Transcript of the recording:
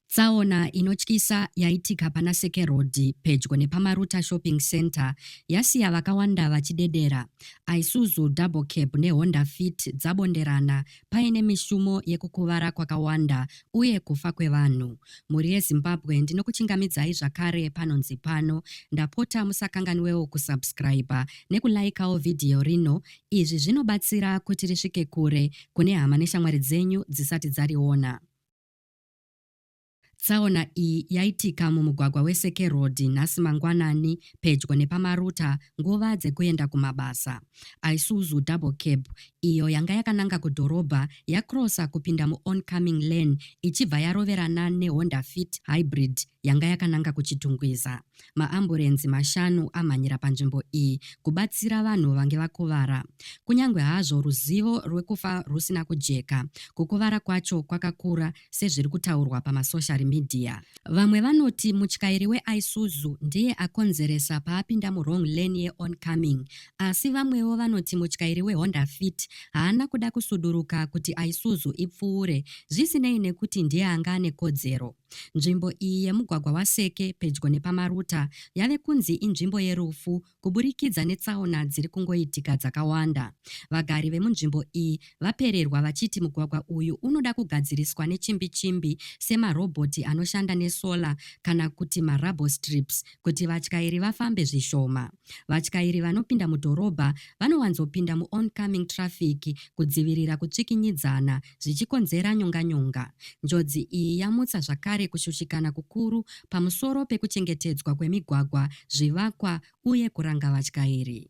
Tsaona inotyisa yaitika pana Seke Road pedyo nepaMaruta Shopping Centre yasiya vakawanda vachidedera. Isuzu Double Cab neHonda Fit dzabonderana paine mishumo yekukuvara kwakawanda uye kufa kwevanhu. Mhuri yeZimbabwe ndinokuchingamidzai zvakare panonzi pano. Ndapota musakanganwewo kusubscriber nekulaikawo vhidhiyo rino Izvi zvinobatsira kuti risvike kure kune hama neshamwari dzenyu dzisati dzariona. Tsaona iyi yaitika mumugwagwa weSeke Road nhasi mangwanani pedyo nepaMaruta nguva dzekuenda kumabasa. Isuzu Double Cab iyo yanga yakananga kudhorobha yakrosa kupinda muOncoming Lane ichibva yaroverana neHonda Fit Hybrid yanga yakananga kuChitungwiza. Maamburenzi mashanu amhanyira panzvimbo iyi kubatsira vanhu vange vakuvara. Kunyange hazvo ruzivo rwekufa rwusina kujeka, kukuvara kwacho kwakakura sezviri kutaurwa pamasoshari midhiya. Vamwe vanoti mutyairi weIsuzu ndiye akonzeresa paapinda muwrong lane yeOncoming, asi vamwewo vanoti mutyairi weHonda Fit haana kuda kusuduruka kuti Isuzu ipfuure, zvisinei nekuti ndiye anga ane kodzero. Nzvimbo iyi yemugwagwa waSeke pedyo nepaMaruta yave kunzi inzvimbo yerufu kuburikidza netsaona dziri kungoitika dzakawanda. Vagari vemunzvimbo iyi vapererwa vachiti mugwagwa uyu unoda kugadziriswa nechimbi chimbi semarobhoti anoshanda nesolar kana kuti marubble strips kuti vatyairi vafambe zvishoma. Vatyairi vanopinda mudhorobha vanowanzopinda muoncoming traffic kudzivirira kutsvikinyidzana zvichikonzera nyonganyonga. Njodzi iyi yamutsa zvakare kushushikana kukuru pamusoro pekuchengetedzwa kwemigwagwa, zvivakwa uye kuranga vatyairi.